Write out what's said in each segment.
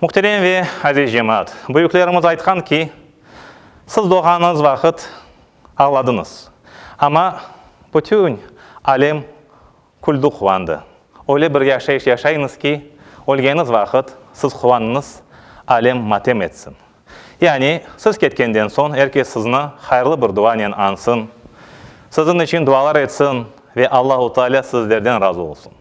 Muhterem ve aziz cemaat, büyüklerimiz aytqan ki, siz doğğanıñız vaqıt ağladıñız, amma bütün alem küldi, quvandı. Öyle bir yaşayış yaşayıñız ki, ölgeniz vaqıt siz quvanıñız, alem matem etsin. Yani, siz ketkenden soñ er kes sizni hayırlı bir duanen añsın, siziñ içün dualar etsin ve Allahu Taalâ sizlerden razı olsun.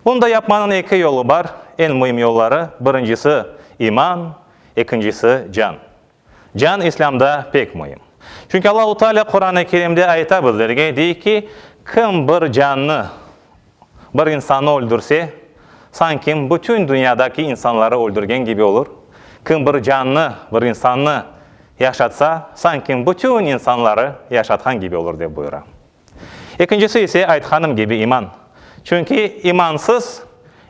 Bunday yapmanıñ eki yolu bar, eñ müim yolları, birincisi, iman, ekincisi, can. Can İslâmda pek müim. Çünki Allahu Taalâ Quran-ı Kerimde ayta bizlerge, dey ki, Kim bir cannı, Bir insannı öldürse, sanki bütün dünyadaki insanları öldürgen kibi olur, kim bir cannı, bir insannı yaşatsa, sanki bütün insanları yaşatqan kibi olur, dep buyura. Ekincisi ise, aytqanım kibi, iman. Çünki imansız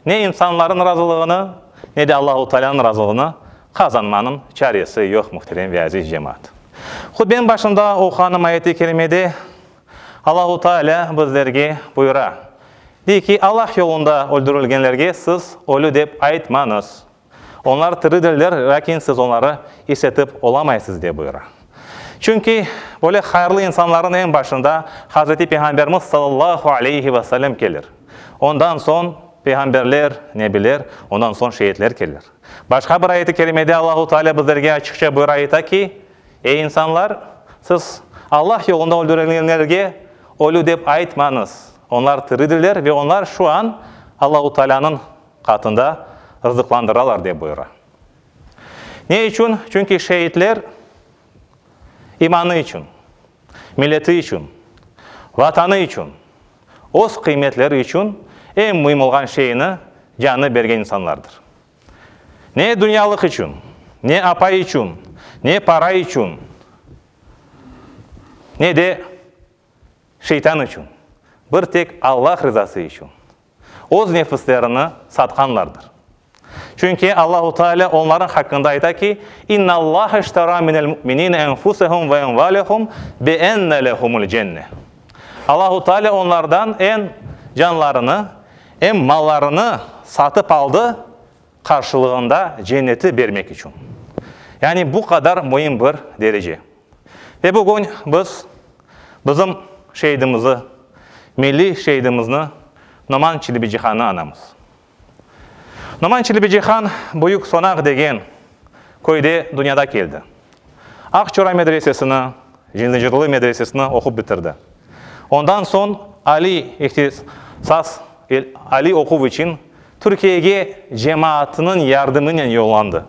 ne insanların razılığını, ne de Allahu Taalanıñ razılığını qazanmanıñ çaresi yoq, muhterem ve aziz cemaat. Hutbenin başında oquğanım ayeti kerimede Allahu Taalâ bizlerge buyura, De ki, Allah yolunda öldürilgenlerge siz ölü dep aytmañız. Onlar tiridirler, lâkin siz onları işitip olamaysız, dep buyura. Çünki böyle hayırlı insanlarnıñ eñ başında Hazreti Peyğamberimiz sallallahu aleyhi ve sellem kelir. Ondan soñ peyğamberler, nebiler, ondan soñ şeitler kelir. Başqa bir ayet-i kerimede Allahu Taalâ bizlerge açıqça buyura ayta ki, Ey insanlar, siz Allah yolunda öldürilgenlerge ölü dep aytmañız. Onlar tiridirler ve onlar şu an Allahu Taalânıñ qatında rızıqlandıralar, dep buyura. Ne içün? Çünki şeitler imanı içün, milleti içün, Vatanı içün, öz qıymetleri içün eñ müim olğan şeyni, canını bergen insanlardır. Ne dünyalıq içün, ne apay içün, ne para içün, ne de şeytan içün, bir tek Allah rızası içün öz nefislerini satqanlardır. Çünki Allahu Teala onların haqqında ayta ki, İnna Allahe iştara minel mü'minine enfusehum ve envalehum bi enne lehumul cenne. Allahu Teala onlardan en canlarını Em mallarını satıp aldı qarşılığında cenneti bermek içün. Yani bu qadar müim bir derece. Ve bugün biz bizim şeidimizi, milliy şeidimizni Noman Çilibicihanı anamız. Noman Çilibicihan büyük Sonaq degen köyde dünyada keldi. Aqçora medresesini, Cendzecirli medresesini oqup bitirdi. Ondan soñ aliy ihtisas, aliy oquv içün Türkiyege cemaatınıñ yardımınen yollandı.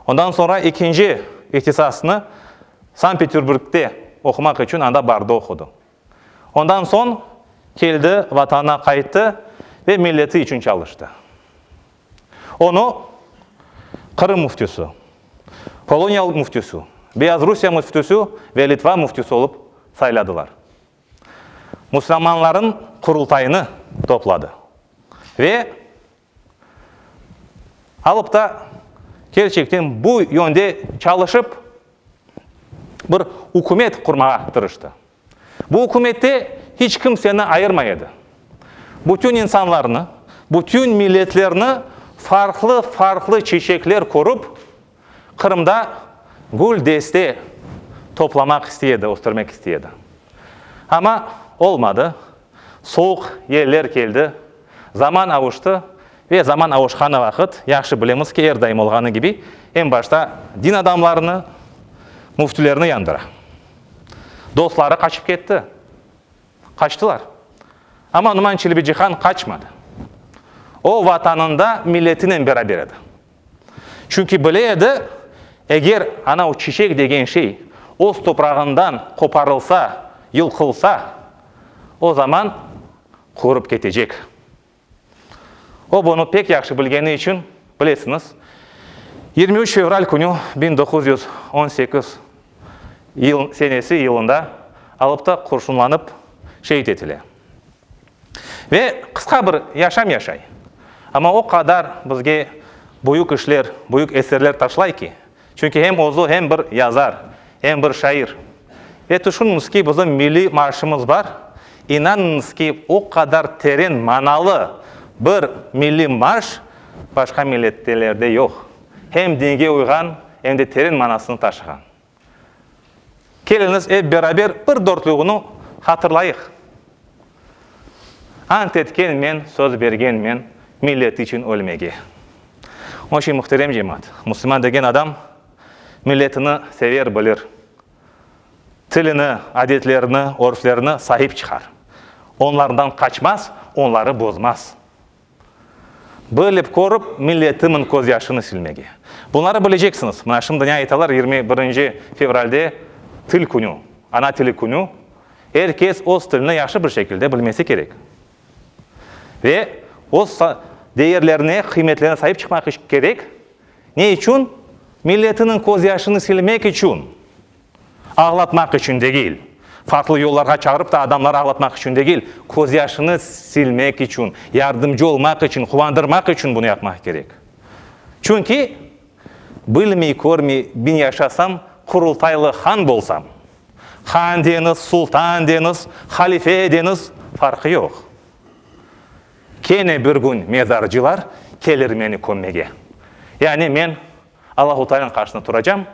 Ondan soñra ekinci ihtisasnı Sankt-Peterburgde oqumaq içün anda barda oqudı. Ondan soñ keldi, Vatanına qayttı ve milleti içün çalıştı. Onı Qırım müftüsü, Poloniya müftüsü, Beyazrusiya müftüsü ve Litva müftüsü olıp sayladılar. Müslümanların Qurultayını topladı ve alıp da kerçekten bu yönde çalışıp bir ükümet qurmağa tırıştı. Bu ükümette hiç kimseni ayırmay edi. Bütün insanlarnı, bütün milletlerni farqlı-farqlı çeçekler körip, Qırımda gül deste toplamaq istey edi, östürmek istey edi. Amma olmadı, soğuq yeller keldi, zaman avuştı ve zaman avuşqanı vaqıt, yahşı bilemiz ki, er daim olğanı kibi, en başta din adamlarını, müftülerni yandıra. Dostları qaçıp ketti. Qaçtılar. Amma Numan Çelebicihan qaçmadı. O, Vatanında milletinen beraber edi. Çünki bile edi, eger ana o çiçek degen şey öz toprağından qoparılsa, yılqılsa, o zaman qurıp ketecek. O bunı pek yahşı bilgeni içün, bilesiñiz, yirmi üç fevral künü biñ doquz yüz on sekiz yıl senesi yılında Alıpta qurşunlanıp şeet etile. Ve qısqa bir yaşam yaşay, amma o qadar bizge büyük işler, büyük eserler taşlay ki, Çünki hem özü hem bir yazar, hem bir şair. Ve tüşüniñiz ki, bizim milliy marşımız bar. İnanıñız ki, o qadar teren manalı bir milliy marş başqa millettelerde yoq. Hem dinge uyğan, em de teren manasını taşığan. Keliñiz, ep beraber bir dörtlügini hatırlayıq. Ant etkenmen, söz bergenmen millet içün ölmege. Onıñ içün, muhterem cemaat, musulman degen adam milletini sever, bilir, tilini, adetlerini, örflerini sahip çıqar, onlardan qaçmaz, onları bozmaz. Bilip körüp, milletimin köz yaşını silmege. Bunları bileceksiñiz. Mına şimdi ne aytalar yirmi birinci fevralde til künü, ana tili künü. Er kes öz tilini yahşı bir şekilde bilmesi kerek. Ve öz değerlerine, qıymetlerine saip çıqmaq kerek. Ne içün? Milletiniñ köz yaşını silmek içün. Ağlatmaq içün degil. Farqlı yollarğa çağırıp ta adamları ağlatmaq içün degil, közyaşını silmek içün, yardımcı olmaq içün, quvandırmaq içün bunı yapmaq kerek. Çünki, bilmey, körmey bin yaşasam, Qurultaylı han bolsam, han deñiz, sultan deñiz, halife deñiz, farqı yoq. Kene bir kün mezarcılar kelir meni kömmege. Yani men Allahuteala'nıñ qarşısında turacam,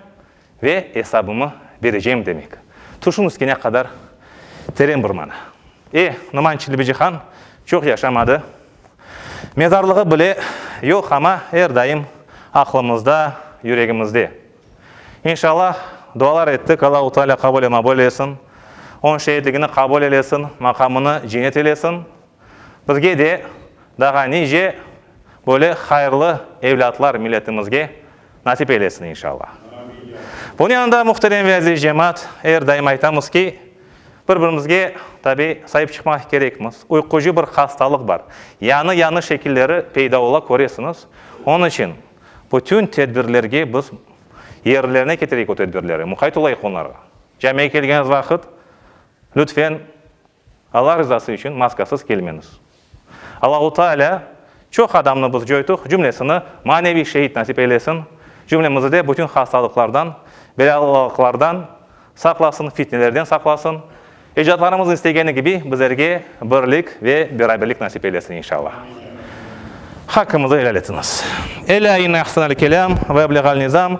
Ve esabımı berecem demek. Tuşun üstine qadar teren bir mana. E, Numan Çilibicihan çoq yaşamadı. Mezarlığı bile yoq, ama er daim aqlımızda, yüregimizde. İnşallah, dualar ettik, Allahu Taalâ qabul emabul eylesin, onıñ şehitligini qabul eylesin, maqamını cennet eylesin. Bizge de, dağa nice böyle hayırlı evlâtlar milletimizge. Nasip eylesin, inşalla. Bunı yanında, muhterem ve aziz cemaat, er daim aytamız ki, bir birimizge, tabi, saip çıqmaq kerekmiz. Uyqucı bir hastalıq bar. Yanı yanı şekilleri peyda ola, köresiñiz. Onıñ içün bütün tedbirlerge biz yerlerine ketireyik o tedbirleri, muqayt olayıq onlarğa. Camiye kelgeniz vaqıt, lütfen, Alla rızası içün maskasız kelmeñiz. Allahu Taalâ çoq adamnı biz coytuq cümlesini maneviy şehit nasip eylesin, cümlemizide bütün hastalıqlardan, belâlıqlardan saqlasın, fitnelerden saqlasın, ecdadlarımız istegeni kibi bizlerge birlik ve beraberlik nasip eylesin inşallah. Hakkımızı helal etiñiz. Elâ inne ahsenel kelâm ve ebleğal nizâm.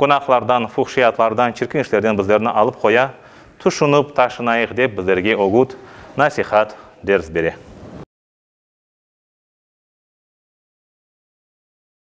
Günahlardan, fuhşiyatlardan, çirkin işlerden bizlerni alıp qoya, tüşünip, taşınayıq dep bizlerge ögüt, nasihat, ders bere.